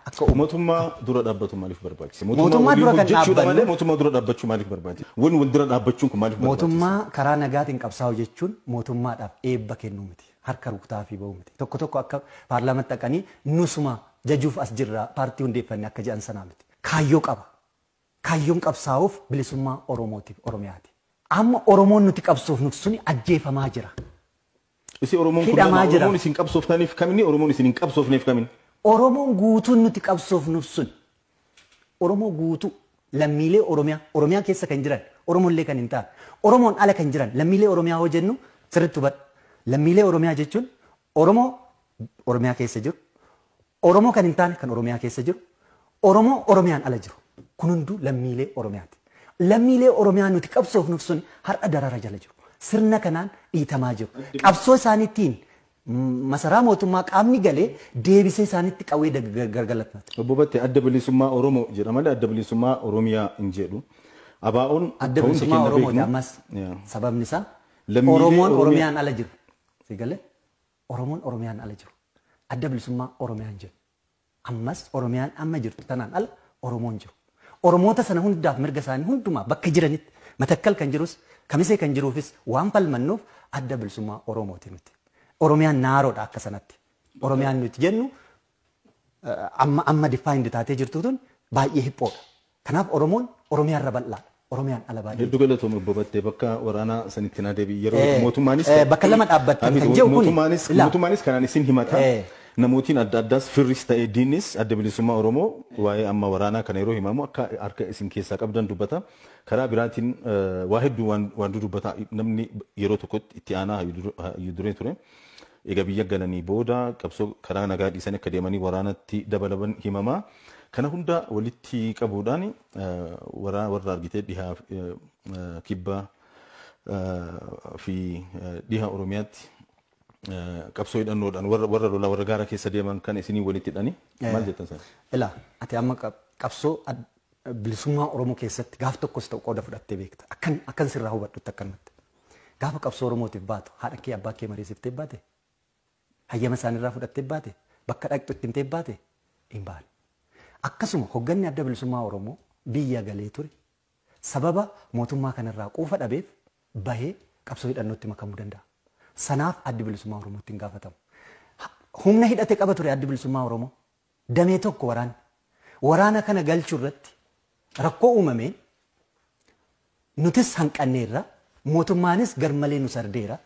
Akka umatummaa dura dhaabbatu maaliif barbaachise? Mootummaa Mootummaa waliin dura kan hojjechuudha malee dhaabbannu- mootummaa dura dhaabbachuu maaliif barbaachise? Wan wal dura dhaabbachuun kun maaliif barbaachise? Mootummaa karaa nagaatiin qabsaa'u jechuun mootummaadhaaf eebba kennuu miti. Harka rukutaafii ba'uu miti. Tokko tokko akka paarlaamatti dhaqanii nusuma jajuuf as jirra paartii hundeeffanne akka jedhan sanaa miti. Kaayyoo qaba. Kaayyoon qabsaa'uuf bilisummaa Oromootiif Oromiyaati. Amma Oromoon nuti qabsoofnuuf suni ajjeefamaa jira. Isi Oromoon kun Hidhamaa lama jira. Oromoon isin qabsooftaniif kamini Oromoon isin hin qabsoofneef kamini. Oromoon guutuun nuti qabsoofnuuf sun Oromoo guutuu lammiilee Oromiyaa Oromiyaa keessa kan jiran Oromollee kan hin taane Oromoon ala kan jiran lammiilee Oromiyaa hoo jennu sirriitti hubadha. Lammiilee Oromiyaa jechuun Oromoo Oromiyaa keessa jiru Oromoo kan hin taane kan Oromiyaa keessa jiru, Oromoo Oromiyaan ala jiru. Kun hunduu lammiilee Oromiyaati. Lammiilee Oromiyaa nuti qabsoofnuuf sun har'a darara jala jiru. Sirna kanaan dhiitamaa jiru. Qabsoo isaaniitiin masaraa mootummaa qaamni galee deebisee isaanitti qawwee gargalatnata. Obbo Battee adda bilisummaa Oromoo jedha malee adda bilisummaa Oromiyaa hin jedhu. Abaa'oon Adda ta'uun bilisummaa keenya Oromooti beeknu. ammas Yeah. sababni isaa Lammiilee Oromoon Oromiyaa- Oromiyaan ala jiru. Si galee? Oromoon Oromiyaan ala jiru Adda Bilisummaa Oromiyaa hin jennu. Ammas Oromiyaan amma jirtu tanaan ala Oromoo hin jiru. Oromoota sana hundaaf mirga isaanii hundumaa bakka jiranitti Matakkal kan jirus Kamisee kan jiruufis waan falmannuuf Adda Bilisummaa Oromooti nuti. Oromiyaan Naaroodha akka sanatti. Oromiyaan nuti jennu amma amma defined taatee jirtu tun baay'ee hiphoodha. Kanaaf Oromoon Oromiyaa irra bal'aadha. Oromiyaan ala baay'ee. Heddu galatoomi obbo Battee bakka waraanaa sanitti na deebi'i yeroo Eh, mootummaanis eh, bakka lama dhaabbattan Hafiz, kan jedhu kuni. mootummaanis Ilaa. mootummaanis kanaan isin himata Eh. namootiin adda addaas firris ta'ee diinnis adda bilisummaa Oromoo waa'ee amma waraanaa kana yeroo himamu akka harka isin keessaa qabdan dubbata karaa biraatiin eh, waa hedduu waan waan dudubbata namni yeroo tokkotti itti aanaa hayyuu dur- hayyuu duree ture Eega biyya galanii booda qabsoo karaa nagaa dhiisanii akka deemanii waraanatti dabalaman himama. Kana hunda walitti qabuudhaan waraana warra argitee dhihaa kibba fi dhiha Oromiyaatti qabsoo hidhannoodhaan warra warra lolaa warra gaara keessa deeman kana isinii walitti hidhanii maal jettan sana? Ila ati amma qab- qabsoo ad- bilisummaa Oromoo keessatti gaaf tokkos ta'u qooda fudhattee beekta. Akkan akkan sirraa hubadhutti akkanumatti. Gaafa qabsoo Oromootiif baatu haadha kee abbaa kee mariisiftee baate? Hayyama isaanirraa fudhattee baate? Bakka dhaqxu itti himtee baate? Hin baane. Akkasuma hogganni Adda Bilisummaa Oromoo biyya galee ture sababa mootummaa kanarraa quufa dhabeef bahee qabsoo hidhannootti makamuu danda'a. Sanaaf Addi Bilisummaa Oromootti hin gaafatamu. Humna hidhate qaba ture Addi Bilisummaa Oromoo. Damee tokko waraanni. Waraana kana galchuu irratti rakkoo uumameen nutis hanqanneerra, mootummaanis garmalee nu sardeera.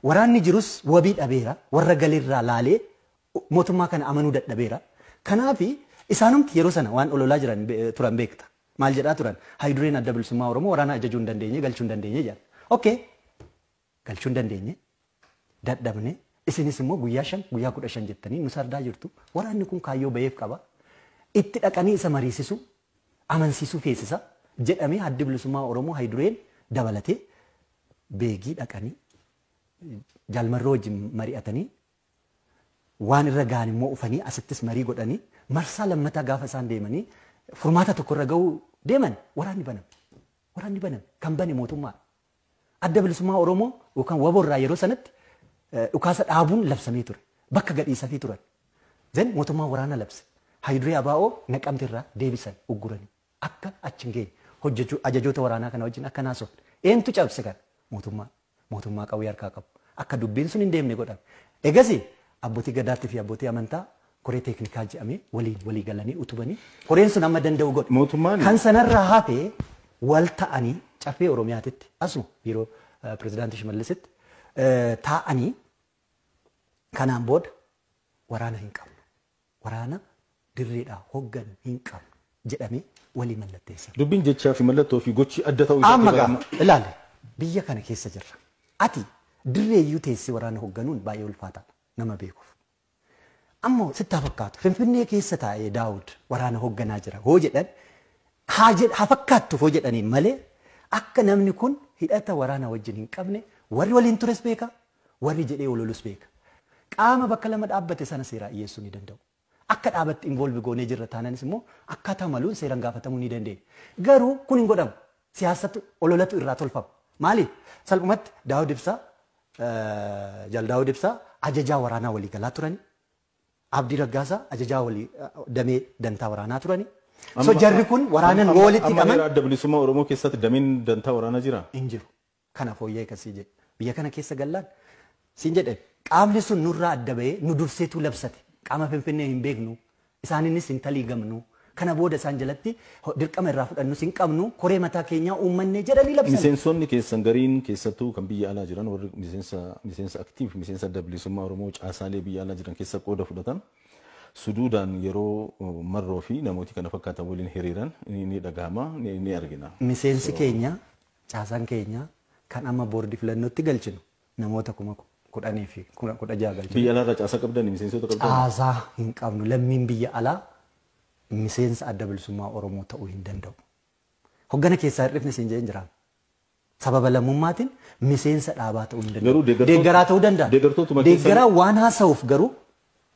Waraanni jirus wabii dhabeera, warra galerraa laalee mootummaa kana amanuu dadhabeera. Kanaaf isaanumti yeroo sana waan ololaa jiran turan beekta. Maal jedhaa turan? Hayudureen Adda Bilisummaa Oromoo waraana ajajuu hin dandeenye, galchuu hin dandeenye jedhan. Okay! galchuu hin dandeenye, dadhabne, isinis immoo guyyaa shan, guyyaa kudha shan jettanii nu sardaa jirtu, waraanni kun kaayyoo baheef qaba, itti dhaqanii isa mariisisuu, amansiisuu feesisa jedhamee Addi Bilisummaa Oromoo Hayidureen dabalatee Beegii dhaqanii Jaal Marroo wajjin mari'atanii waan irra ga'an immoo ufanii asittis marii godhanii marsaa lammataa gaafa isaan deemanii furmaata tokko irra ga'uu deeman waraanni baname. Waraanni baname kan bane mootummaa Adda Bilisummaa Oromoo yookaan wabo irraa yeroo sanatti dhukaasa dhaabuun labsamee ture. Bakka gadhiisafii turan. Then mootummaan waraana labse. Hayiduree Abaa'oo naqamte irraa deebisan ugguranii. Akka achi hin geenye. Hojjechuu ajajoota waraanaa kana wajjin akka naasofne. Eentu cabse kana? Mootummaa. Mootummaa qawwee harkaa qabu. Akka dubbiin sun hin deemne godhame. Egasi abbootii gadaatti fi abbootii amantaa koree teeknikaa jedhamee waliin walii galanii utubanii koreen sun amma danda'u godhe. Mootummaan- Kan sanarraa hafe wal ta'anii caffee Oromiyaatitti asuma biiroo eh, pirezidaantii Shimallisitti eh, taa'anii kanaan booda waraana hin qabnu. Waraana dirreedhaa hogganu hin qabnu jedhamee walii mallatteessan. Dubbiin jechaa fi mallattoo fi gochi adda ta'uu Amma isaatti gaa barama. ilaali biyya kana keessa jirra. Ati dirree iyyuu teessee waraana hogganuun baay'ee ulfaataadha nama beekuuf. Ammoo sitti haa fakkaatu Finfinnee keessa taa'ee Daawud waraana hogganaa jira hoo jedhan haa jedh haa fakkaattuuf hoo jedhaniin malee akka namni kun hidhata waraana wajjin hin qabne warri waliin tures beeka warri jedhee ololus beeka. Qaama bakka lama dhaabbate sana seeraa dhiyeessuu ni danda'u. Akka dhaabatti involve goonee jirra taananis immoo akkaataa maluun seeran gaafatamuu ni dandeenya. Garuu kun hin godhamu. siyaasatu, ololatu irraa tolfama. Maali? Salphumatti Daawud Ibsaa, Jaal Daawud Ibsaa ajajaa waraanaa waliigalaa turani. Abdii Raggaasaa ajajaa walii damee dantaa waraanaa turani. So Amma jarri kun waraanan amma yoo walitti amma hidhaman heera adda bilisummaa Oromoo keessatti dameen dantaa waraanaa jiraa? hin jiru. kana fooyya'e kan siin jedhe biyya kana keessa gallaan siin jedhe qaamni sun nurraa adda ba'ee nu durseetu labsate qaama finfinnee hin beeknu isaaniinis hin taliigamnu kana booda isaan jalatti ho- dirqama irraa fudhannus hin qabnu koree mataa keenyaa uummannee jedhanii labsan. Miseensonni keessan gariin keessattuu kan biyya alaa jiran warri miseensa miseensa aktiif miseensa adda bilisummaa Oromoo caasaalee biyya alaa jiran keessa qooda fudhatan suduudaan yeroo uh, marroo fi namooti kana fakkaatan waliin hiriiran ni ni dhagahama ni, ni argina. Miseensi So, keenya Caasaan keenya kan amma boordii filannootti galchinu namoota kuma 10 fi 16 galchina. Biyya alaarraa caasaa qabdanii? Miseensota qabdanii? Caasaa hin qabnu. Lammiin biyya alaa miseensa Adda Bilisummaa Oromoo ta'uu hin danda'u. Hoggana keessaa hir'ifne siin jedheen jiraa? Sababa lammummaatiin miseensa dhaabaa ta'uu hin danda'u. Garuu deeggartoota- Deeggaraa ta'uu danda'a. deeggartootuma keessan- Deeggaraa waan haasa'uuf garuu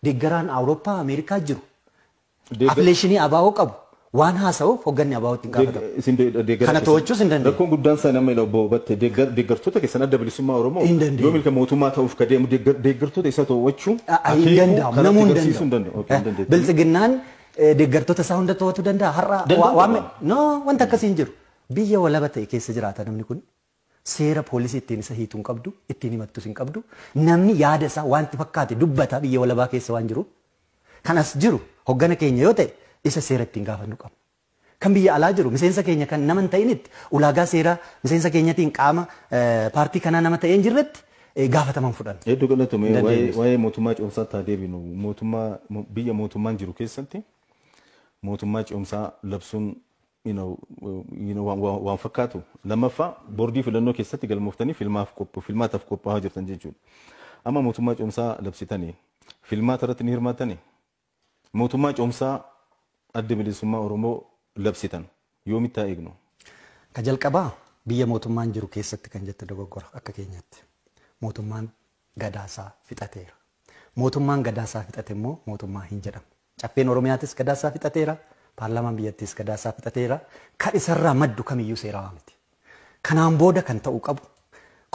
deeggaraan Awurooppaa, Ameerikaa jiru Afileeshinii ABO qabu waan haasa'uuf hogganni ABO itti hin gaafatamu. Kana to'achuus hin dandeenye. Rakkoon guddaan isaa nama ila obbo Batte deeggartoota keessan adda bilisummaa Oromoo yoo milka mootummaa ta'uuf ka deemu deeggartoota isaa to'achuu hin danda'amu namuu hin danda'u. Biltsiginnaan deeggartoota isaa hunda to'atu danda'a har'a wanta akkasii hin jiru. Biyya walaba ta'e keessa jiraata namni kun. Seera poolisii ittiin isa hiitu hin qabdu, ittiin himattus hin qabdu. Namni yaada isaa waan itti fakkaate dubbata biyya walabaa keessa waan jiruuf. Kan as jiru hoggana keenya yoo ta'e isa seera ittiin gaafannu qabna. Kan biyya alaa jiru miseensa keenya kan nama hin ta'initti ulaagaa seeraa miseensa keenyatiin qaama paartii kanaa nama ta'ee hin jirretti gaafatama hin fudhannu. Hedduu galatomi. Hin Waa'ee dandeenyus. waa'ee mootummaa ce'umsaatti haa deebinu. Mootummaa mo- biyya mootummaan jiru keessatti mootummaa ce'umsaa labsuun waan fakkaatu. Lammaffaa boordii filannoo keessatti galmooftanii filmaataaf qophaa'aa jirtan jechuudha. Amma mootummaa cehumsaa labsitanii filmaata irratti ni hirmaattanii? Mootummaa cehumsaa adda bilisummaa Oromoo labsitan yoomitti haa eegnu? Ka jalqabaa biyya mootummaan jiru keessatti kan jette dogoggora akka keenyatti. Mootummaan gadaasaa fixateera. Mootummaan gadaasaa fixate immoo mootummaa hin jedhamu. Caffeen Oromiyaatis gadaasaa fixateera, paarlaamaan biyyattiis gadaasaa fixateera. Kan isarraa maddu kamiyyuu seerawaa miti. Kanaan booda kan ta'uu qabu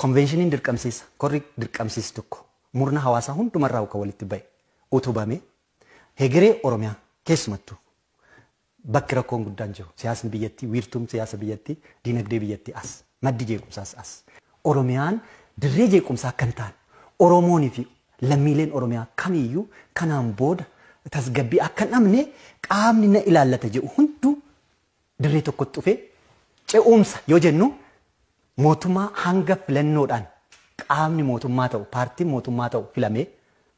konveenshiniin dirqamsiisa, korri dirqamsiisi tokko murna hawaasaa hundumarraa kan walitti ba'e utubamee hegeree Oromiyaa keessumattuu Bakki rakkoon guddaan jiru siyaasni biyyattii, wiirtuun siyaasa biyyattii, diinagdee biyyattii as. Maddi jeequmsaas as. Oromiyaan dirree jeequmsaa akka hin taane, Oromoonii fi lammiileen Oromiyaa kamiiyyuu kanaan booda tasgabbii akka hin dhabne qaamni na ilaallata jedhu hunduu dirree tokkotti dhufee ce'umsa yoo jennu mootummaa hanga filannoodhaan qaamni mootummaa ta'u, paartiin mootummaa ta'u filamee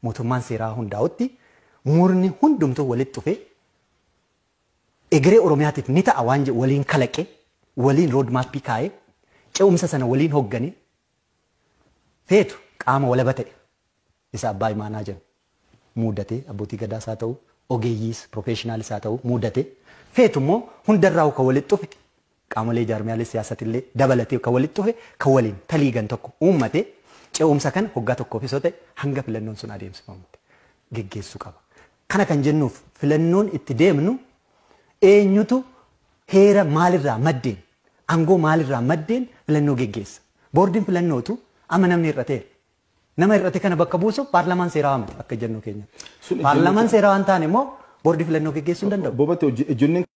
mootummaan seeraa hundaa'utti murni hundumtuu walitti dhufee egeree Oromiyaatiif ni ta'a waan jedhu waliin kalaqee, waliin road map kaa'ee, ce'umsa sana waliin hogganee feetu qaama walaba ta'e isa Abbaa Imaanaa jennu muudatee, Abbootii Gadaas haa ta'u, ogeeyyiis, professionals haa ta'u muudatee, feetu immoo hundarraahuu kan walitti dhufe Qaamolee jaarmiyaalee siyaasatillee dabalatee kan walitti dhufe, kan waliin taliigan tokko uummate ce'umsa kana hoggaa tokkoofis yoo ta'e hanga filannoon sun adeemsifamutti geggeessuu qaba. Kana kan jennuuf filannoon itti deemnu eenyutu heera maalirraa maddeen, aangoo maalirraa maddeen filannoo geggeessa? Boordiin filannootu amma namni hir'ateera. Nama hir'ate kana bakka buusuuf paarlamaan seerawaa miti akka ejjennoo keenyatti. Paarlamaan seerawaa hin taane immoo boordii filannoo geggeessuu hin danda'u. Bobatte ejjennoon